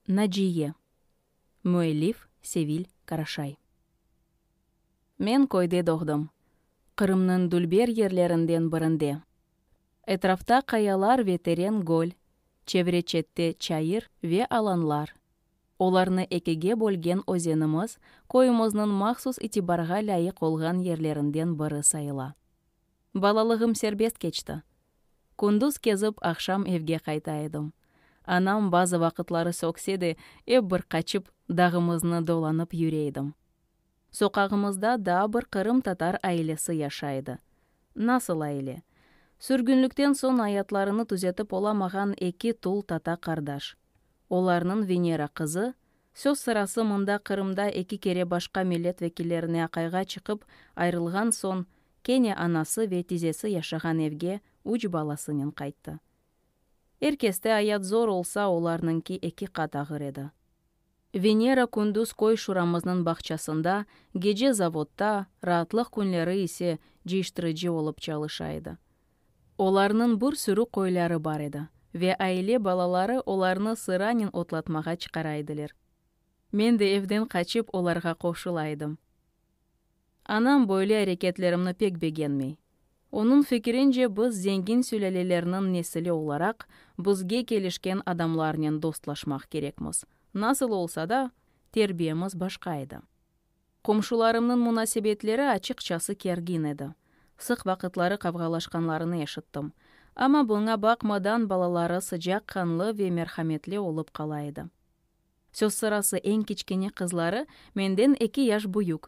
Naciye. Müellif, Sevil Karaşay. Men köyde doğdım. Qırımnıñ dülber yerlerinden birinde. Etrafta qayalar ve teren göl, çevre-çette çayır ve alanlar. Olarnı ekige bölgen özenimiz köyümizniñ mahsus itibarğa lâyıq olğan yerlerinden biri sayıla. Balalığım serbest keçti. Kündüz kezip, aqşam evge qayta edim. Anam bazı vaqıtları sökse de, ep bir qaçıp, dağımıznı dolanıp yüre edim. Soqağımızda daa bir qırım tatar ailesi yaşay edi. Nasıl aile? Sürgünlikten soñ ayatlarını tüzetip olamağan eki tul tata qardaş. Olarnıñ Venera qızı, Söz sırası mında Qırımda eki kere başqa millet vekillerine aqayğa çıqıp ayrılğan soñ, kene anası ve tizesi yaşağan evge üç balasınen qayttı. Er keste ayat zor olsa, olarnıñki eki qat ağır edi. Venera kündüz köy-şuramıznıñ bağçasında, gece zavodta, raatlıq künleri ise cıyıştırıcı olıp çalışa edi. Olarnıñ bir sürü qoyları bar edi, ve aile balaları olarnı sıranen otlatmağa çıqara ediler. Men de evden qaçıp olarğa qoşula edim. Anam böyle areketlerimni pek begenmey. Onıñ fikirince biz zengin sülâlelerniñ nesili olaraq, bizge kelişken adamlarnen dostlaşmaq kerekmiz. Nasıl olsa da, terbiyemiz başqa edi. Qomşularımnıñ munasebetleri açıqçası kergin edi. Sıq vaqıtları qavğalaşqanlarını eşittim. Amma buña baqmadan balaları sıcaq qanlı ve merhametli olıp qala edi. Söz sırası eñ kiçkene qızları, menden eki yaş büyük.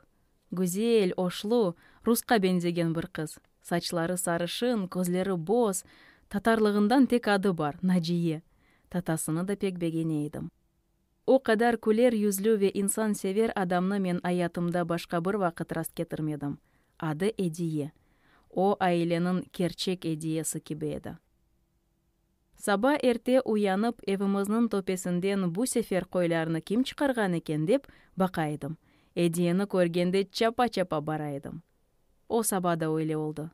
Güzel, oşlu, rusqa beñzegen bir qız. Saçları sarışın, közleri boz. Tatarlığından tek adı bar, Naciye. Tatasını da pek begene edim. O qadar küler yüzlü ve insansever adamnı men ayatımda başqa bir vaqıt rastketirmedim. Adı Ediye. O, aileniñ kerçek Ediyesi kibi edi. Saba erte uyanıp, evimizniñ töpesinden bu sefer qoylarnı kim çıqarğan eken, dep baqa edim. Ediyeni körgende çapa-çapa bara edim. O saba da öyle oldı.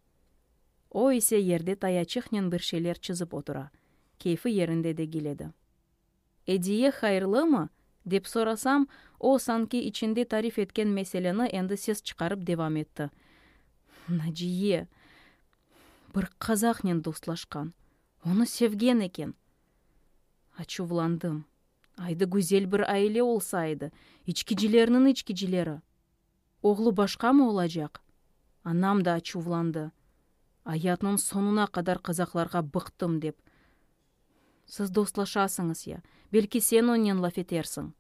O ise yerde tayaçıqnen bir şeyler çizip otura, keyfi yerinde degil edi. Ediye hayırlımı? dep sorasam, o, sanki içinde tarif etken meseleni endi ses çıqarıp devam etti, Naciye, bir qazahnen dostlaşqan, onı sevgen eken. Açuvlandım. Aydı güzel bir aile olsa edi, içkicilerniñ içkicileri! Oğlu başqamı olacaq? Anam da açuvlandı, Ayatnıñ soñuna qadar qazahlarğa bıqtım, dep. Siz dostlaşasıñız ya, belki sen onnen laf etersiñ.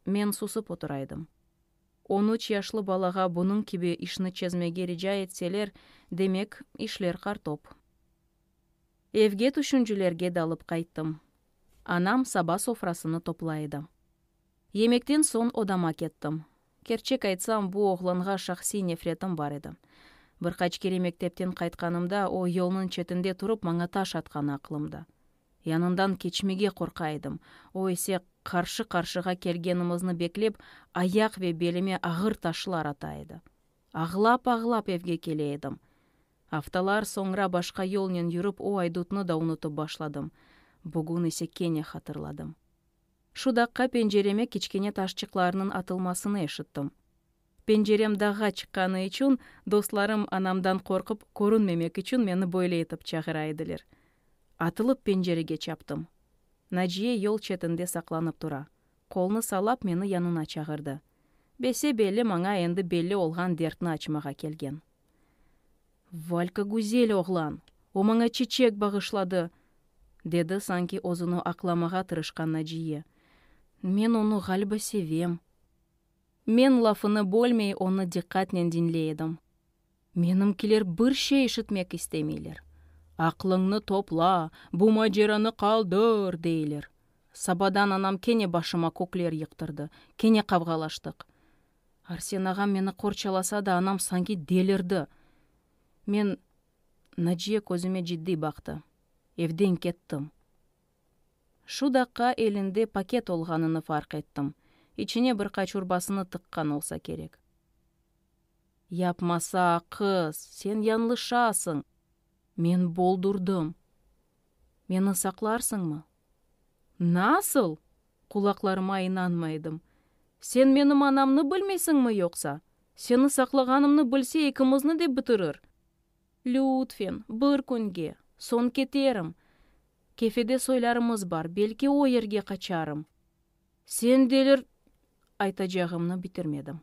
Men susıp oturaydım. On üç yaşlı balağa bunıñ kibi işni çezmege rica etseler, demek, işler qartop. Evge tüşüncilerge dalıp qayttım. Anam saba sofrasını topla edi. Yemekten soñ odama kettim. Kerçek aytsam, bu oğlanğa şahsiy nefretim bar edi. Bir qaç kere mektepten qaytqanımda, o, yolnıñ çetinde turıp, maña taş atqanı aqlımda. Yanından keçmege qorqa edim, o ise, qarşı-qarşığa kelgenimizni beklep, ayaq ve belime ağır taşlar ata edi. Ağlap-ağlap evge kele edim. Aftalar soñra başqa yolnen yürip, o aydutnı da unutıp başladım. Bugün ise kene hatırladım. Şu daqqa pencereme kiçkene taşçıqlarnıñ atılmasını eşittim. Pencerem dağğa çıqqanı içün, dostlarım, anamdan qorqıp, körünmemek içün meni böyle etip çağıra ediler. Atılıp pencerege çaptım. Naciye yol çetinde saqlanıp tura, qolnı salap meni yanına çağırdı. Bese-belli maña endi belli olğan dertni açmağa kelgen. Valka güzel oğlan, o maña çeçek bağışladı, dedi sanki özüni aqlamağa tırışqan Naciye. Men onı, ğaliba, sevem. Men lafını bölmey onı diqqatnen diñley edim. Menimkiler bir şey işitmek istemeyler. Aqlıñnı topla, bu maceranı qaldır, deyler. Sabadan anam kene başıma kökler yıqtırdı, kene qavğalaştıq. Arsen ağam meni qorçalasa da, anam sanki delirdi. Men, Naciye közüme ciddiy baqtı. Evden kettim. Şu daqqa elinde paket olğanını farq ettim. İçine bir qaç urbasını tıqqan olsa kerek. Yapmasa, qız, sen yanlışasıñ! Men boldurdım. Meni saqlarsıñmı? Nasıl? Qulaqlarıma inanmay edim. Sen menim anamnı bilmeysiñmi yoqsa? Seni saqlağanımnı bilse, ikimizni de bitirir. Lütfen, bir künge, soñ keterim. Kefede soylarımız bar, belki o yerge qaçarım. Sen delir. Aytacağımnı bitirmedim.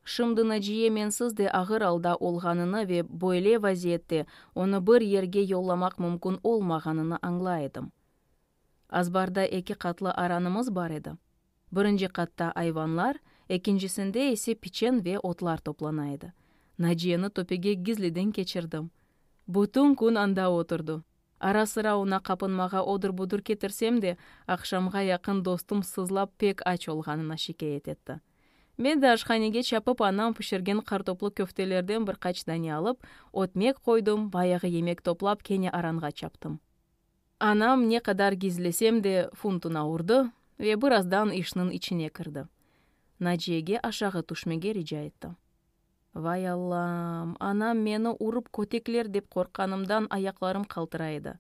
Şimdi Naciye mensiz de ağır alda olğanını ve böyle vaziyette onı bir yerge yollamaq mümkün olmağanını añlay edim. Azbarda eki qatlı aranımız bar edi. Birinci qatta ayvanlar, ekincisinde ise piçen ve otlar toplana edi. Naciyeni töpege gizliden keçirdim. Bütün kün anda oturdı. Ara-sıra oña qapınmağa odur-budur ketirsem de, aqşamğa yaqın dostum sızlap pek aç olğanını şikâyet etti. Ben de aşhanege çapıp anam pişirgen qartoplı köftelerden bir qaç dane alıp, ötmek qoydım, bayağı yemek toplap kene aranğa çaptım. Anam ne qadar gizlesem de, funtuna urdı ve birazdan işniñ içine kirdi. Naciyege aşağı tüşmege rica etti. Vay Allam, anam meni urıp kötekler dep qorqqanımdan ayaqlarım qaltıra edi.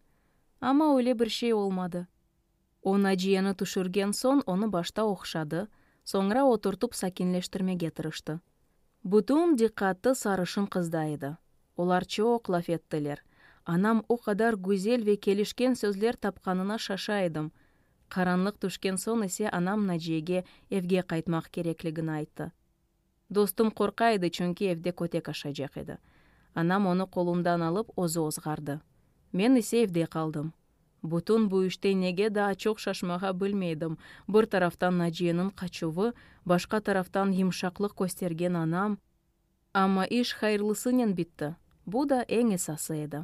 Amma öyle bir şey olmadı. O Naciyeni tüşürgen soñ onı başta oqşadı, soñra oturtıp sakinleştirmege tırıştı. Bütün diqqatı sarışın qızda edi. Olar çoq laf ettiler. Anam o qadar güzel ve kelişken sözler tapqanına şaşa edim. Qaranlıq tüşken soñ ise anam Naciyege evge qaytmaq kerekligini ayttı. Dostum qorqa edi, çünki evde kötek aşacaq edi. Anam onı qolundan alıp, özü ozğardı. Men ise evde qaldım. Bütün bu işte nege daa çoq şaşmağa bilmeydim, bir taraftan Naciyeniñ qaçuvı, başqa taraftan yımşaqlıq köstergen anam. Amma iş hayırlısınen bitti, bu da eñ esası edi.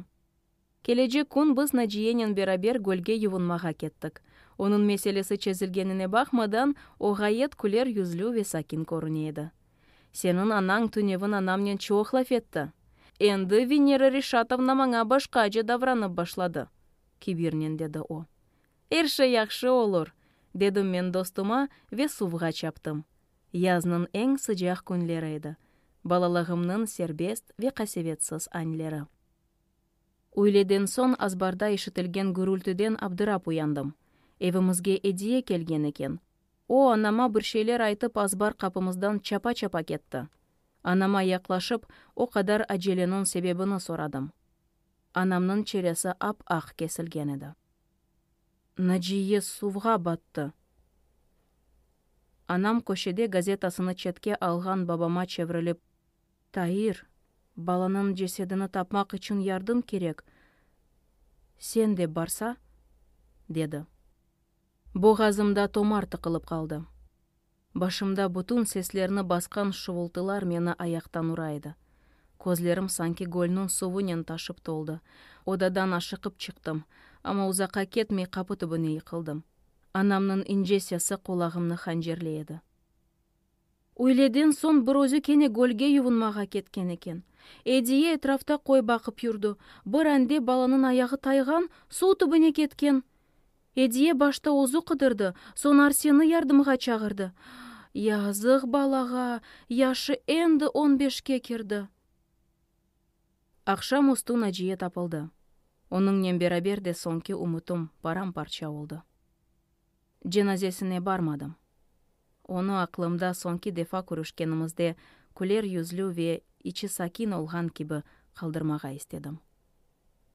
Kelecek kün biz Naciyenen beraber gölge yuvunmağa kettik. Onıñ meselesi çezilgenine baqmadan, o ğayet küler yüzlü ve sakin körüne edi. Seniñ anañ tünevin anamnen çoq laf etti. Endi Venera Reşatovna maña başqaca davranıp başladı, kibirnen dedi o. Er şey yahşı olur, dedim men dostuma ve suvğa çaptım. Yaznıñ eñ sıcaq künleri edi, balalığımnıñ serbest ve qasevetsiz añleri. Üyleden soñ azbarda işitilgen gürültüden abdırap uyandım. Evimizge ediye kelgen eken, O, anama bir şeyler aytıp azbar qapımızdan çapa-çapa ketti. Anama yaqlaşıp, o qadar acelenıñ sebebini soradım. Anamnıñ çeresi ap-aq kesilgen edi. Naciye suvğa battı! Anam köşede gazetasını çetke alğan babama çevrilip. Tair, balanıñ cesedini tapmaq içün yardım kerek, sen de barsa? dedi. Boğazımda tomar tıqılıp qaldı. Başımda bütün seslerni basqan şuvultılar meni ayaqtan ura edi. Közlerim sanki gölniñ suvınen taşıp toldı. Odadan aşıqıp çıqtım, amma uzaqqa ketmey qapı tübüne yıqıldım. Anamnıñ ince sesi qulağımnı hancerley edi. Üyleden soñ bir özü kene gölge yuvunmağa ketken eken. Ediye etrafta köy baqıp yurdı. Bir ande balanıñ ayağı tayğan, suv tübüne ketken. Ediye başta özü qıdırdı, soñ Arseni yardımğa çağırdı. Yazıq balağa, yaşı endi on beşke kirdi. Aqşam üstü Naciye tapıldı. Onıñnen beraber de soñki ümütim param-parça oldı. Cenazesine barmadım. Onı aqlımda soñki defa körüşkenimizde küler yüzlü ve içi sakin olğan kibi qaldırmağa istedim.